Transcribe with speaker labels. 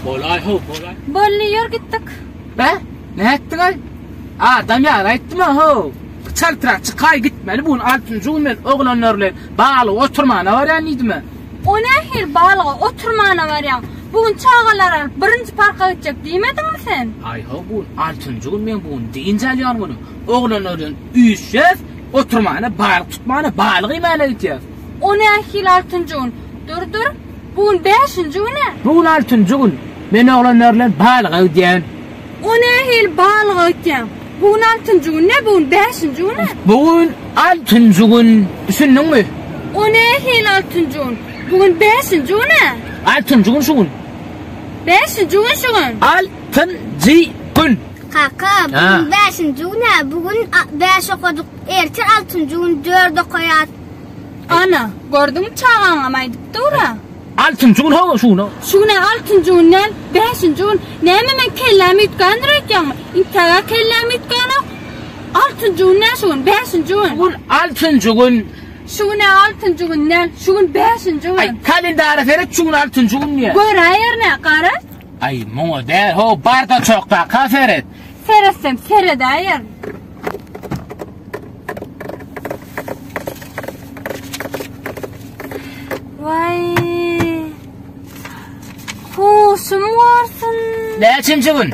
Speaker 1: Bolay ho bolay. Bolny ýör gitdik.
Speaker 2: Be?
Speaker 1: Ne etdiň ay? Adam ýar aýtdym ho. Çal trak çykay gitmeli bu altynjy gün men oglanlar bilen baly oturmana barýan diýdim. O ne her
Speaker 2: balyga oturmana barýan. Bu gün çagalar alyp birinji parka gitjek diýmediňmi sen? Ay ho bu
Speaker 1: altynjy gün men bu gün diýinç alýan günüm. Oglanlardan üýşýäs, oturmana, balyk tutmana, balyk iýmäne gitýäs. O nähili
Speaker 2: altynjy gün? Durdur, bu gün bäşinji gün-ä? Bu gün altynjy gün.
Speaker 1: Men oglanlar bilen balyga gidýän. O nähili
Speaker 2: balyga gitýäň? Bu gün altynjy gün dä, bu gün bäşinji gün-ä? Bu gün
Speaker 1: altynjy gün. Düşündiňmi? O nähili
Speaker 2: altynjy gün? Bu gün bäşinji gün-ä? Altynjy gün şu gün.
Speaker 1: Bäşinji
Speaker 2: gün şu gün. Altynjy
Speaker 1: gün. Kaka, bugun
Speaker 3: bäşinji gün-ä, bu gün bäş okadyk, erte altynjy gün dört okaýas. Ana,
Speaker 2: gördüňmi, çagaňam aýdyp dur-a. Altynjy gün, hawa,
Speaker 1: şu gün-ä. Şu gün-ä altynjy gün
Speaker 2: däl, bäşinji gün. Näme, meň kellämi üýtgändir öýtýäňmi? Intäk-ä kellämi üýtgänok. Altynjy gün däl şu gün, bäşinji gün. Şu gün altynjy
Speaker 1: gün. Şu gün-ä altynjy
Speaker 2: gün däl, şu gün bäşinji gün. Aý, kalendara seret,
Speaker 1: şu gün altynjy gün diýýä. Göräýerin-ä, gara.
Speaker 2: Aý muňa
Speaker 1: däl ho bardaçokdaka seret. Seretsem
Speaker 2: seredäýerin. Waý. Huşum gorsun. Näçinji gün?